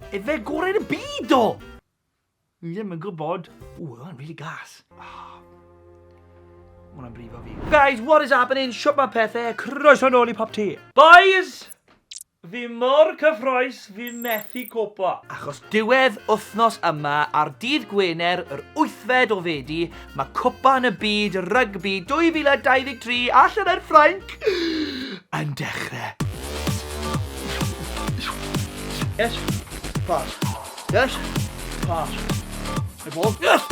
Efe gorau yn y byd do! Ni ddim yn gwybod. Ooh, that one really gas. Ah. Hwna'n brifo fi. Guys, what is happening? Shwt mae pethau? Croeso nôl i Pop T. Boys! Fi mor cyffroes, fi methu copo. Achos diwedd wythnos yma, ar dydd Gwener, yr wythfed o Fedi, Mae Cwpan y Byd Rygbi 2023 allan ar Ffrainc yn dechrau. Yes. Pass. Yes. Pass. The ball. Yes.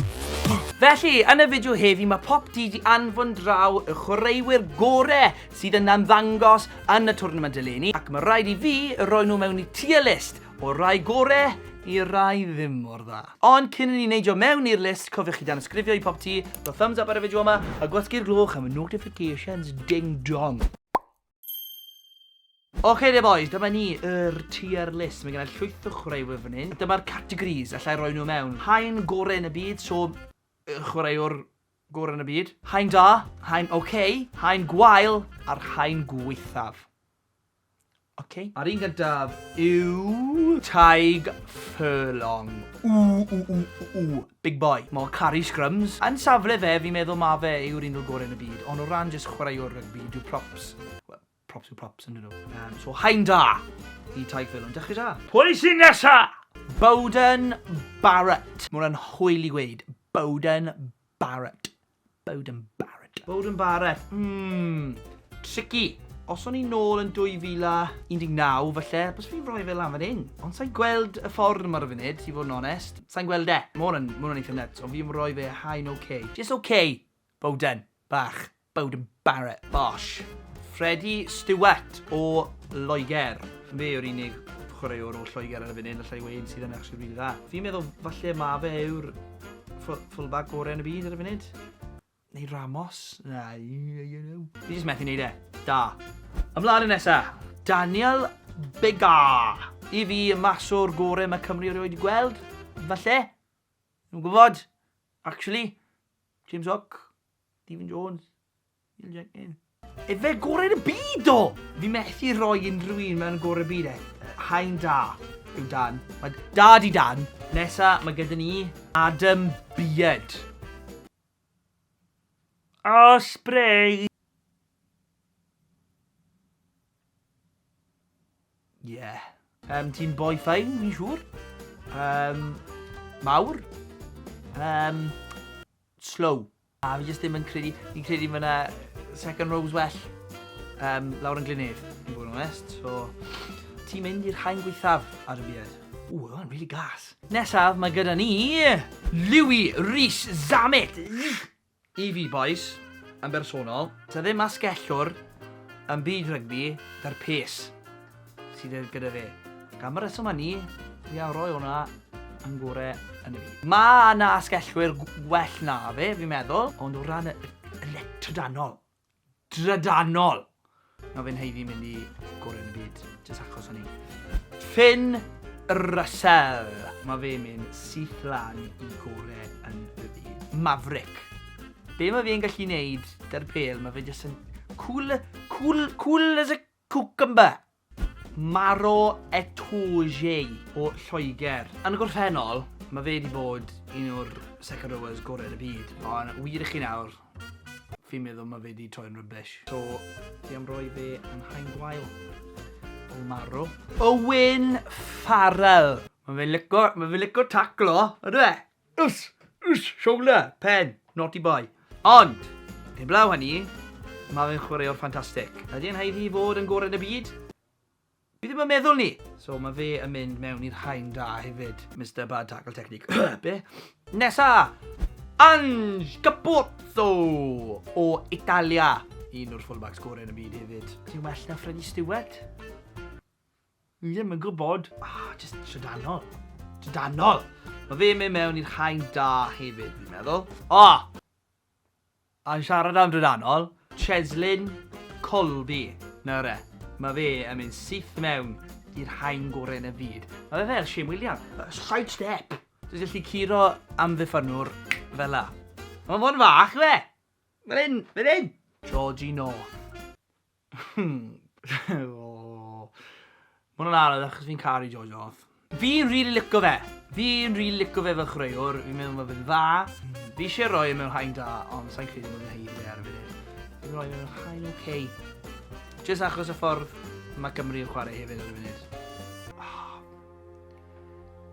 Felly, yn y fideo heddi mae pop di di anfon draw y chwaraewyr gore sydd yna'n ddangos yn y twrnament eleni ac mae rhaid i fi roi nhw mewn i tier list O'r rai gore i'r rai ddim mor dda. Ond cyn i ni neidio mewn i'r list, cofiwch chi danysgrifio i popty, rho thumbs up ar y fideo yma, a gwasgu'r gloch am y notifications ding dong. Oce de boys, dyma ni, yr tier list. Mae gennau llwyth o chwaraewyr fan hyn. Dyma'r categories, allai roi nhw mewn. Haen gore yn y byd, so chwaraewr gore yn y byd. Haen da, haen oce, haen gwael, a'r haen gweithaf. Oce. A'r un gyntaf yw Tadhg Furlong. Ww ww ww ww ww. Big boy. Mor caru scrums. Yn safle fe, fi'n meddwl ma fe yw'r un o'r gorau yn y byd, ond o ran jyst chwaraewr rygbi, dyw props, wel, props yw props, yn dyn nhw. Um, so, haen da i Tadhg Furlong. Dechrau da. Pwy sy'n nesa? Beauden Barrett. Mae hwnna'n hwyl i gweud. Beauden Barrett. Bowden Barrett. Bowden Barrett, mmm, tricky. Os o'n i'n nôl yn 2019, falle, bys fi'n rhoi fe lan fan hyn. Ond sa'n gweld y ffordd yma ar y funud, i fod yn onest. Sa'n gweld e. Mae hwn yn eitha nuts, ond fi'n rhoi fe high no K. Just OK, Bowden, bach. Bowden Barrett Bosch. Freddie Stewart o Loegr. Fe yw'r unig chwaraewr o Lloegr ar y funud allai weud sydd yn actually rili dda. Fi'n meddwl falle ma fe yw'r fullback gorau yn y byd ar y funud. Neu Ramos? Na, I don't know. Fi jyst methu neud e. Da. Ymlaen y nesa. Daniel Bega. I fi, mas o'r gore mae Cymru erioed wedi gweld. Falle. Nw'n gwybod. Actually. James Hook. Stephen Jones. Neil Jenkins. Efe gorau'r byd o! Fi methu rhoi unrhyw un mewn gorau byd e. Hain da yw Dan. Mae da di Dan. Nesa, mae gyda ni Adam Beard. O, spray! Yeah. Um, Ti'n boi ffain, fi'n siŵr. Um, mawr. Um, slow. A fi jyst ddim yn credu, fi'n credu ma' 'na second rows well um, lawr yn Glynedd, yn bod yn onest. So, ti'n mynd i'r haen gweithaf ar y byd. Ooh, oedd o'n really gas. Nesaf, mae gyda ni... Louis Rhys Zamet! I fi, boys, yn bersonol, ta ddim asgellwr yn byd rygbi, da'r pes. sydd e gyda fe. Ac am y reswm hynny, fi a roi hwnna yn gore yn y byd. Mae yna asgellwyr gwell na fe, fi'n meddwl. Ond o ran y, y le trydanol, drydanol, mae fe'n heiddi mynd i gore yn y byd, jyst achos hynny. Finn Russell. Mae fe'n mynd syth lan i gore yn y byd. Maverick. Be mae fe'n gallu neud dy'r pel, mae fe jyst yn cool, cool, cool as a Cucumber, Maro Etoigei o Lloegr. Yn y gorffennol, mae fe 'di bod un o'r second rowers gorau yn y byd, ond wir i chi nawr, fi'n meddwl mae fe 'di troi'n rubbish. So, fi am roi fe yn haen gwael o Maro. Owen Farrell. Mae fe'n lico, mae fe'n lico taclo, yndyw e? Uss! Uss! Shoulder! Pen! Naughty boy. Ond, heblaw hynny, mae fe'n chwaraewr ffantastig. Ydy e'n haeddu i fod yn gorau yn y byd? Fi ddim yn meddwl 'ny! So mae fe yn mynd mewn i'r rhain da hefyd, Mister Bad Tackle Technique. Be? Nesa! Ange Capozzo o Italia. Un o'r fullbacks gorau yn y byd hefyd. Ti'n well na Freddie Stewart? Fi ddim yn gwybod. Ah, just trydanol. Trydanol! Mae fe'n mynd mewn i'r haen da hefyd, fi'n meddwl. O! Oh! A'n siarad am drydanol, Cheslin Colby. Nawr e, mae fe yn mynd syth mewn i'r haen gorau yn y byd. Mae fe fel Shane William. Side step! Dwi'n gallu curo am ddiffynwr fel la. Mae'n fod yn fach, fe! Fel hyn, fel hyn! Georgie North. Ma' hwnna'n anodd achos fi'n caru George the Fourth. Fi'n rili lico fe! Fi'n rili lico fe fel chwaraewr, fi'n meddwl ma' fe'n dda. Fi isie roi e mewn haen da, ond sai'n credu bod e'n haeddu fe ar y funud. Fi'n roi fe mewn haen oce. Jyst achos y ffordd ma' Cymru yn chware hefyd ar y funud.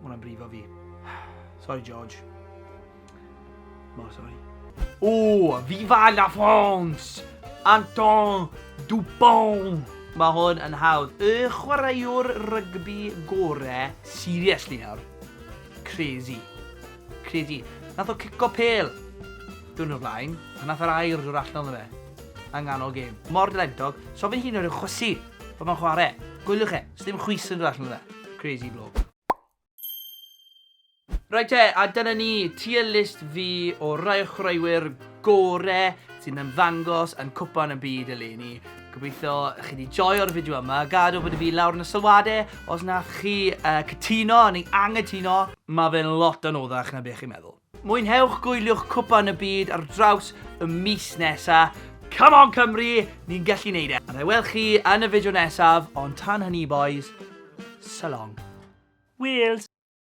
Mae hwnna'n brifo fi. Sorry, George. Mor sorry. O, Viva la France! Anton Dupont! Mae hwn yn hawdd. Y chwaraewr rygbi gore, seriously nawr. Crazy. Crazy. Nath o cico pel. Dwi'n o'r blaen. A nath yr air dod allan o'n fe. Yng nghanol gêm. Mor dylentog. So fi'n hun o'r chwysi. Pan mae'n chwarae. Gwyliwch e. Sdim chwys yn dod allan o fe. Crazy bloke. Rhaid te, a dyna ni, tier list fi o rai o chwaraewyr gore sy'n ymddangos yn cwpan y byd eleni. Gobeithio chi wedi joio'r fideo yma, gad o bod y fi lawr yn y sylwadau os na chi uh, cytuno neu angytuno, mae fe'n lot anoddach na beth chi'n meddwl. Mwynhewch gwyliwch cwpan y byd ar draws y mis nesa. Come on Cymru, ni'n gallu neud e! A na i weld chi yn y fideo nesaf, ond tan hynny bois, so long. Wales!